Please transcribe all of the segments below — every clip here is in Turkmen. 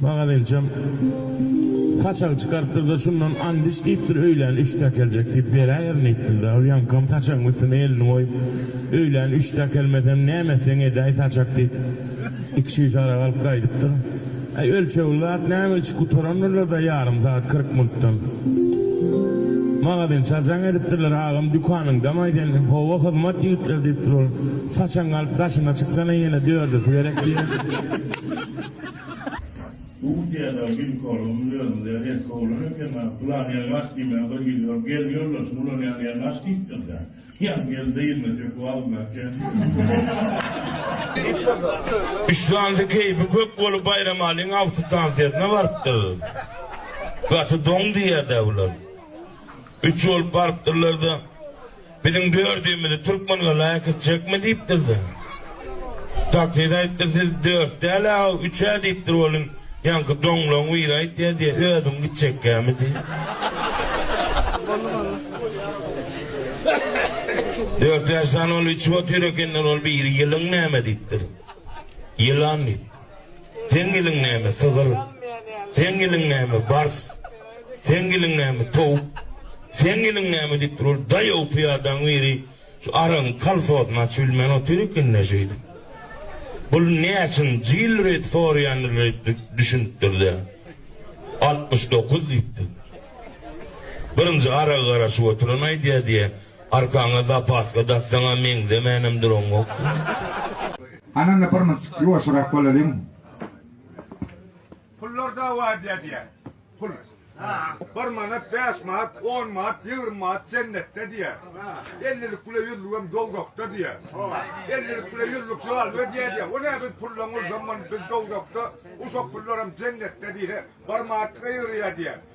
Maňada ençem saçagy çykarypdyr-da, şundan and iç diýipdir, öýlän üçde äkeljek diýip, beräýerin diýipdir-de. Ol ýaňkam saçagyň üstüne elini goýup, öýlän üçde äkelmesem, näme etseň edäý, saçak diýip, iki şüşe arak alyp gaýdypdyr. Äý, ölçegli zat näme, içip gutarandyrlar-da ýarym sagat, kyrk minutdan. Maňada ençal jaň edipdirler, Agam, dükanyňdamaý sen? Hawa, hyzmat ýigitler, diýipdir ol. Saçaň galyp daşyna çyksan-a ýene dördüsi gerek diýip. Russiýada ginekologyň özünde erkek oglan ekeni, Pylan ýere baş diýmän bir gidiber, gelin ýoldaşyny ulanýan ýere baş diýipdir-dä. Ýa gelin-de ýerine çöküp alynýan çenli. Islandy keýpi kök bolup Baýramalyň awtostansiýasyna barypdyr. Gaty doň diýýär-dä bular. Üç bolup barypdyrlar-da, Biziň dördümizi türkmen ýola äkitjekmi diýipdir-de. Taksist aýtdyr, siz dört däl-ä, üç-ä diýipdir welin, ýaňky doňlaň biri aýtýa diýe, özüň gitjekkämi diýip. Dört ýaşdan ol içip otyr ekenler, ol biri ýylyň näme diýipdir. Ýylan diýipdir. Seň iliň näme, sygyr? Seň iliň näme, bars? Seň iliň näme, towuk? Seň iliň näme diýip durur. Daýaw pyýadaň biri şu aragyň kalfosyny açyp bilmän otyr eken-dä şeýdip. Bul näçinji ýyl reýt soraýandyr reýt düşünipdir-de. Altmyş dokuz diýipdir. Birinji aragy garaşyp oturan aýdýar diýýär, arkaňa zapaska daksaň-a meňzemänem duran gok. Anana bir munt ýuwaşyrak bolalyň. Pullar dawa edýär diýýär. Pul. Bir manat, bäş manat, on manat, ýigrimi manat jennetde diýýär. Ellilik bile ýüzlügem dowzahda diýýär. Ellilik bile ýüzlük şal berýär diýýär. O näme biz pullaň bolsam biz dowzahda, uşak pullaram jennetde diýse, bir manatlyk ýygyrýar diýýär.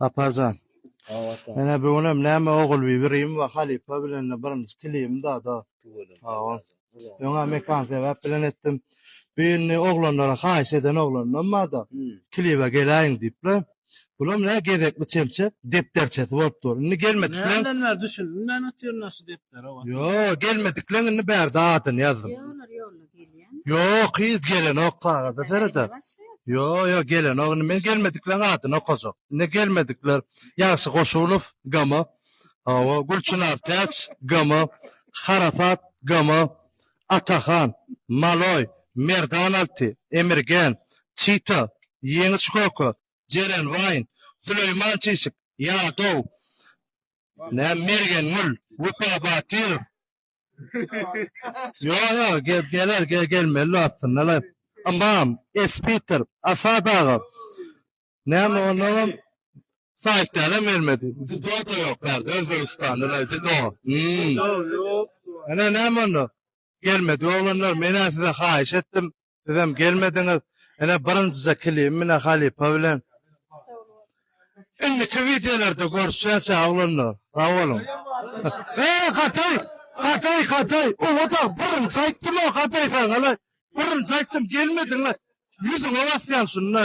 Saparjan. Awata. Ene bu günem näme ogul bir birim we halypa bilen de birinji kilim da da. Hawa. Öňe mekan sebäp bilen etdim. Bu indi oglanlara haýyş eden oglandan bar da. Kilibe geläýiň diýip le. Bulam ne gezekli çemçe depderçesi bolup dur. Indi gelmedikleň. Näden bäri düşündim men otyryn şu depdere. Ýo gelmedikleň indi bärde adyny ýazdym. Ýo olar ýolla Ýok yz gelenok kagaza serede ýo ýo gelenok indi men gelmedikleň adyny okajak indi gelmedikler Ýagşy Goşunow gama hawa Gülçynar Täç gama Harasat gama Atahan Maloý Merdan Alty Emirgen Çita Ýeňiş Köke Jeren Waýn Süleýman Çişik Ýadow Mergen Gül Wepa Batyrow Yo yo gel geler gel gelmeli aslında la. Amam Espiter Asad ağa. Näme onam saýtlara bermedi. Bizde o da ýok bärde Özbegistanda la bizde o. Hmm. Ana näme onda? Gelmedi olanlar. Men size haýyş etdim. Sizem gelmediňiz. Ene birinjije kilim mine halypa bilen. Indiki wideolarda görüşýäs ya oglanlar. Sag boluň. Eee Gataý! Gataý Gataý! Oňa da birinji aýtdym o Gataý saňa la. Birinji aýtdym gelmediň la. Ýüzüňe basýan şunda.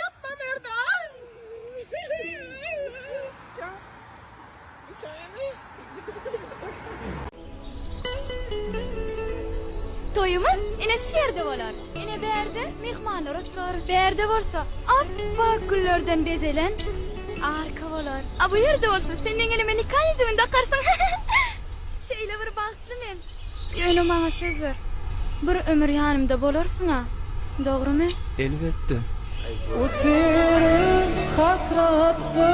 Yapma Merdan. Toýumyz ine şu ýerde bolar. Ine bärde myhmanlar oturar. Bärde bolsa ap-ak güllerden bezelen arka bolar. A bu ýerde bolsa sen meň elime nika ýüzügini dakarsyň. Şeýle bir bagt. Aýtdy men, Ýöne maňa söz ber, bir ömür ýanymda bolarsyň-a, dogrymy? Elbetde. Otyryn hasratda,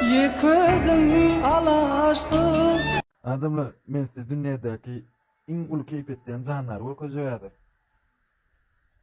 ýeközüm, alaşsyz. Adamlar, men size dünýädäki iň uly keýp etýän jandary görkezjek häzir.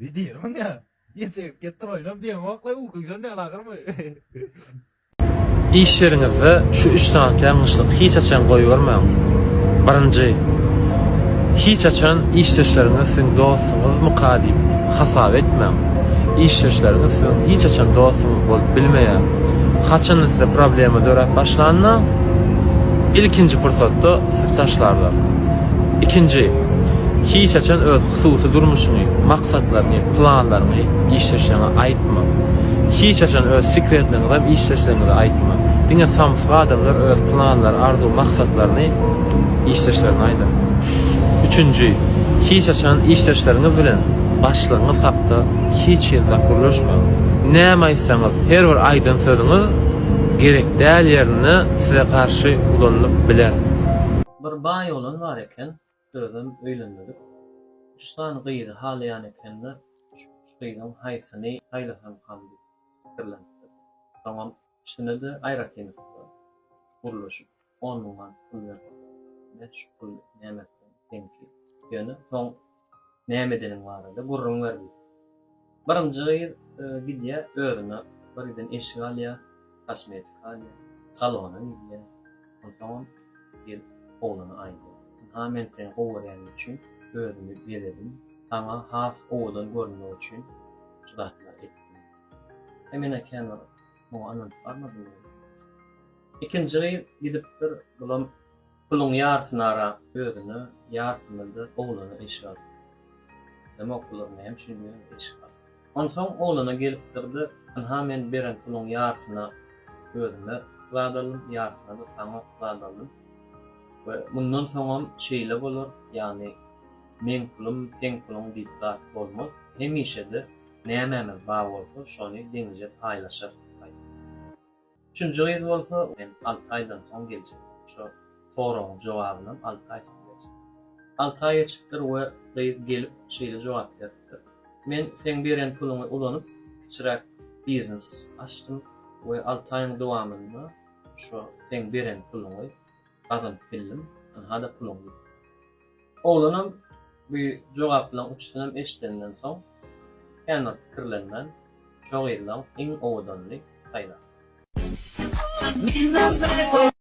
Ne diýerin maňa? Niýe çekip gitdiň oýnap diýeňokla ukyňjan däl agyrmy? Iş ýeriňizde şu üç sany ýalňyşlygy hiç haçan goýbermäň. Birinji, Hiç haçan işdeşleriňizi siziň dostuňyzmyka diýip hasap etmäň. Işdeşleriňiz siziň hiç haçan dostuňyz bolup bilmeýär. Haçanda size problema döräp başlanda, ilkinji pursatda sizi taşlarlar. Ikinji, Hiç haçan öz Hususy durmuşyňy, maksatlaryňy, planlaryňy işdeşleriňe aýtma. Hiç haçan öz sekretleňizem işdeşleriňize aýtma. Diňe samsyk adamlar öz planlary, arzuw, maksatlaryny işdeşlerine aýdar. Üçünji, hiç haçan işdeşleriňiz bilen başlygyňyz hakda hiç hili zat gürleşmäň. Näme aýtsaňyz, her bir aýdan sözüňiz gerek däl ýerinde size garşy ulanylyp biler. Bir baý oglan bar eken. Özem öýlenmedik. Üç sany gyzy halaýan ekenler, şu üç gyzyň haýsyny saýlasamkam diýip pikirlenipdir. Soňam üçüne-de aýratynlykda gürleşip, on müň manat pul beripdir. Ine, şu pul nämesiniň deňki. Ýöne soň. Näme edeniň barada gürrüň ber diýip. Birinji gyz gidýär, özüne birden eşik alýar, kosmetika alýar, salona gidýär. Onsoňam gelip oglana aýdýar. Ynha, men seni gowy görýänim üçin özümi bezedim, saňa has owadan görünmek üçin şu zatlary etdim. He, men-ä känbir muňa ynanyp barmadym. Ikinji gyz gidipdir, bulam Puluň ýarysyny ara özüne, ýarysyny-da oglana eşik al. Hem okularna hem şuny eşik al. Onsoň oglana gelipdir-de, Ynha men beren puluň ýarysyny özüme zat aldym, ýarysyny-da saňa zat aldym we mundan soňam şeýle bolar, ýagny meň pulum, seň puluň diýip zat bolmaz, hemişe-de nämämiz bar bolsa, şony deňiçe paýlaşarys diýip aýt. Üçünji gyz bolsa, Men alty aýdan soň geljek. Şo soragyň jogabynam alty aý soň berjek. Alty aý geçipdir we gyz gelip, şeýle jogap beripdir, Men seň beren puluňy ulanyp, kiçiräk biznes açdym we alty aýyň dowamynda şo seň beren puluňy gazanyp bildim, ynha-da puluň diýipdir. Oglanam bu jogaplaryň üçüsinem eşidenden soň, känbir pikirlenmän, şo gyzlaň iň owadanyny saýlapdyr.